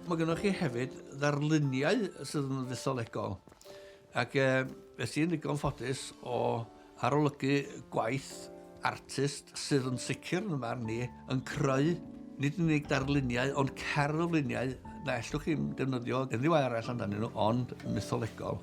Mae gennych chi hefyd ddarluniau sydd yn ddesolegol. Ac e, beth sy'n ddigon ffodus o arolygu gwaith artist sydd yn sicr yn yma ni yn creu nid yn unig darluniau ond cerfluniau na ellwch chi'n defnyddio unrhyw arall amdanyn nhw ond mytholegol.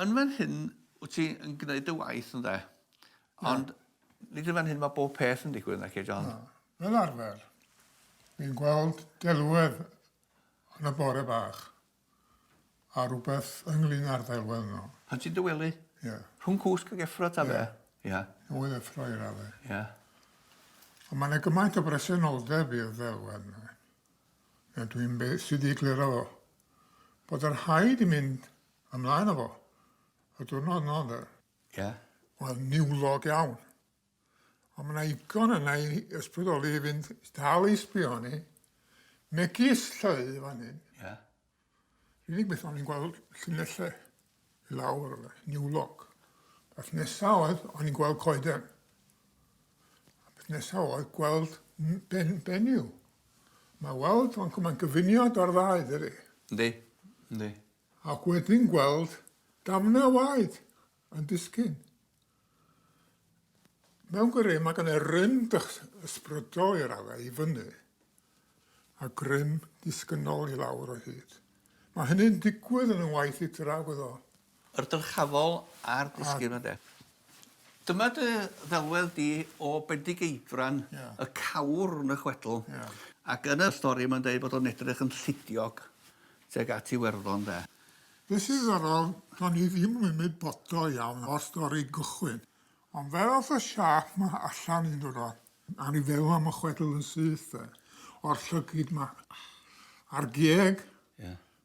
Yn fan hyn wyt ti yn gwneud dy waith ynde? Ond nid yn fan hyn mae bob peth yn digwydd naci John? Na, fel arfer. Fi'n gweld delwedd yn y bore bach a rhywbeth ynglyn â'r ddelwedd yno. Pan ti'n dywelu? Ie. Yeah. Rhwng cwsg ag effro ta fe? Ie. Yeah. Rhwng effro i radde. Ie. Yeah. Ond mae'n gymaint o bresenoldeb i'r ddelwedd yna. Dwi'n sydd wedi egluro bod yr haid i mynd Ymlaen â fo. Y diwrnod yno ynde? Ie. Wel, niwlog iawn. Ond mae yna igon yna i ysbrydoli i fynd dal i sbio ni. Megis lleu fan hyn. Ie. Rwy'n beth o'n i'n gweld llinellau i lawr yna, niwlog. Beth nesaf oedd, o'n i'n gweld coeden. A beth nesaf oedd gweld ben, benyw. Mae weld, ond mae'n gyfuniad o'r ddau, dydy. Yndi, yndi. Ac wedyn gweld damnau waed yn disgyn. Mewn gwirionedd, mae gen y rym ysbrydol i raddau i fyny, a grym disgynnol i lawr o hyd. Mae hynny'n digwydd yn 'y ngwaith i draw iddo. Yr dyrchafol a'r disgyn ynde? Dyma dy ddelwedd di o Bendigeidfran, y cawr yn y chwedl, ac yn y stori mae'n deud bod o'n edrych yn llidiog, Tuag at Iwerddon de. Be sy'n ddiddorol, do'n i ddim yn ymwybodol iawn o'r stori gychwyn, ond fel ath y siâp 'ma allan un diwrnod, a o'n i'n feddwl am y chwedl yn syth de, o'r llygid 'ma, a'r geg,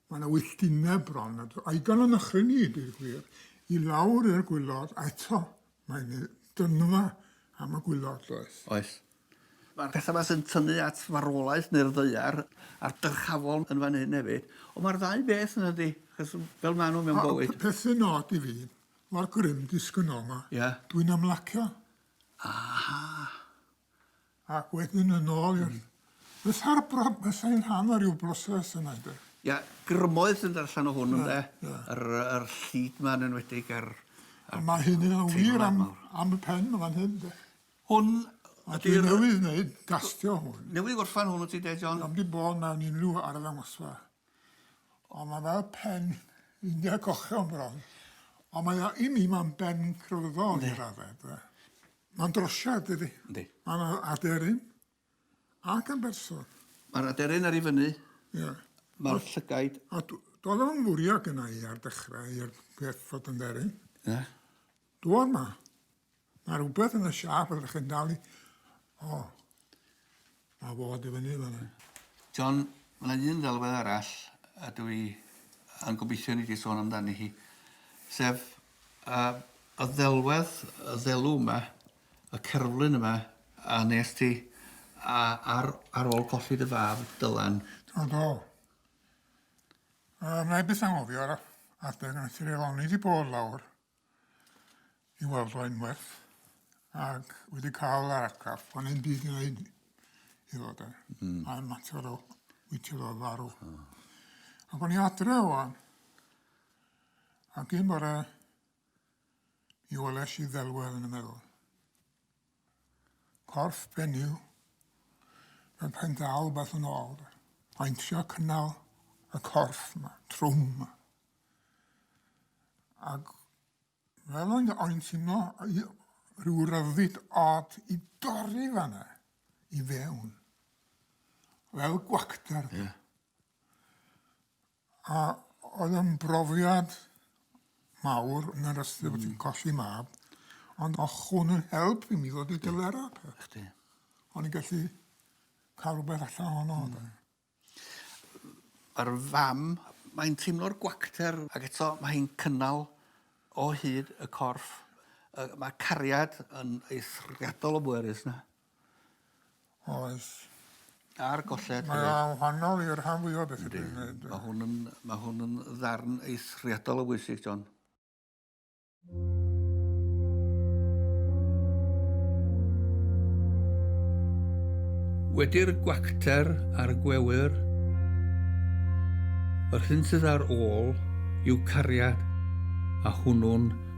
ma' 'na wylltineb bron, a dw- a'i dan yn nychryn i, deud y gwir, i lawr i'r gwilod, a eto, mae'n ei dynfa am y gwilod, does? Oes. Mae'r pethau 'ma sy'n tynnu at farwolaeth neu'r ddaear a'r dyrchafol yn fan hyn hefyd, ond mae'r ddau beth yn dydi? Achos fel maen nhw mewn bywyd. A y peth sy'n od i fi, o'r grym disgynnol 'ma... Ie. ...dwi'n ymlacio. Aha! Ac wedyn yn ôl i'r... Mm. Fatha'r bro- fatha yn rhan o ryw broses yna ynde? Ia, grymoedd sy'n dod allan o hwn ynde? Ie, ie. Yr yy yr llid 'ma yn enwedig a'r a'r... A ma' hyn yn wir am am y pen 'ma fan hyn de. Hwn ydy'r... Dwi newydd wneud gastio hwn. Newydd gorffan hwn wyt ti de John? Am di bod mewn unrhyw arddangosfa. Ond mae fel pen India cochion bron. Ond mae o, i mi, mae'n ben crefyddol i raddau. Mae'n drosiad, dydy? Yndi. Mae'n aderyn. ac yn berson. Mae'r aderyn ar ei fyny. Ie. Mae'r llygaid. A doedd o'n fwriad gyna i ar dechrau i'r peth fod yn dderyn. Ie. Doedd ma. Mae rhywbeth yn y siap ydych chi'n dal i... O. Mae fod i fyny fan John, mae yna un ddelwedd arall a dwi yn gobeithio ni wedi sôn amdani hi, sef uh, y ddelwedd, y ddelw yma, y cerflun yma a nes ti a ar ar ôl colli dy fab Dylan. Do do. Yy mae byth anghofio ar adeg nes i reol oni di bod lawr i weld o unwaith ac wedi cael yr atgaf o'n i'n byd i wneud i ddod e. Mm. A mater o wytio ddo farw. Oh. Ac o'n i adre o'n ac un bore Mi welesh i ddelwedd yn y meddwl. Corff benyw. Mae'n pen dal beth yn ôl. de. Mae'n trio cynnal y corff yma, trwm yma. Ac fel o'n o'n teimlo i- rhyw ryddid od i dorri fanna i fewn. Fel gwacter. Ie. A oedd yn brofiad mawr yn yr ystyr bod ti'n colli mab, ond o'ch hwn yn help i mi ddod i gyfer o. Chdi. O'n i'n gallu cael rhywbeth allan honno. Mm. Yr fam, mae'n teimlo'r gwacter ac eto mae hi'n cynnal o hyd y corff. Yy mae cariad yn eithriadol o bwerus na. Oes. Ar golled... Mae o'n wahanol i'r rhan fwya o bethe dwi'n neud. Yndi. Ma' hwn yn ma' hwn yn ddarn eithriadol o bwysig John. Wedi'r gwacter a'r gwewyr, yr hyn sydd ar ôl yw cariad a hwnnw'n